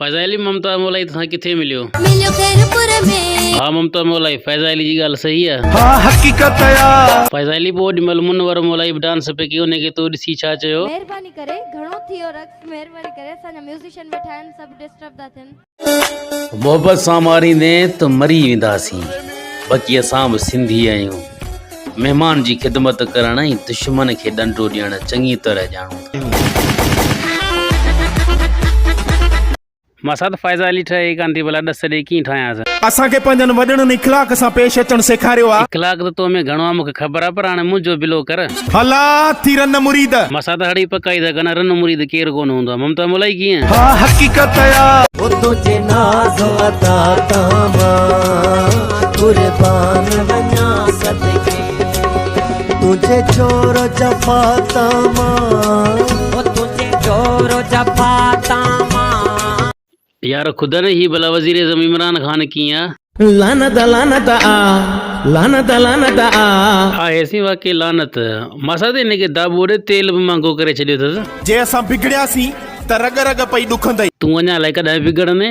فيضا علي ممتاز مولائي تو سان ڪٿي مليو مليو خيرپور ۾ ها ممتاز مولائي فيضا علي جي ڳالهه صحيح آ ها حقيقت آ فيضا علي پوء اوڏي مهل منور مولائي به ڊانس پئي ڪيو انهي کي تو ڏسي ڇا چيو. مهرباني ڪري گهڻو ٿي ويو رقص مهرباني ڪري اسان جا ميوزيشن ويٺا آهن سڀ ڊسٽرب ٿا ٿين. محبت سان ماريندين ته مري وينداسين بقي اسان به سنڌي آهيون. مهمان جي خدمت ڪرڻ ۽ دشمن کي ڏنڊو ڏيڻ چڱي طرح ڄاڻو ٿا. مان سات فائزا علي ٺهي ئي ڪانه ٿي ڀلا ڏس ڏيئي ڪيئن ٺاهيانس. اسان کي پنهنجن وڏڙن اخلاق سان پيش اچڻ سيکاريو آ. اخلاق ته تو ۾ گهڻو آ مون کي خبر آ پر هاڻي منهنجو به لو ڪر. هلا ٿي رن مريد. مان سات هڙئي پڪائي ٿا ڪن رن مريد ڪير ڪونه هوندو آ ممتا مولائي ڪيئن. ها حقيقت آ. هو تنهنجي ناز ادا تان مان. قربان وڃان صدقي تنهنجي جور جفا تان مان او تنهنجي جور جفا تان مان. يار خدا نه هي ڀلا وزير اعظم عمران خان ڪيئن آ. لعنت لعنت آ لعنت لعنت آ. ها هيسين واقعي لعنت. ماسات هن کي دا ٻوڙي تيل به مھانگو ڪري ڇڏيو اٿس. جي اسان بگڙياسين ته رڳ رڳ پئي ڏکندئي. تون اڃا الائي ڪڏهن بگڙندين.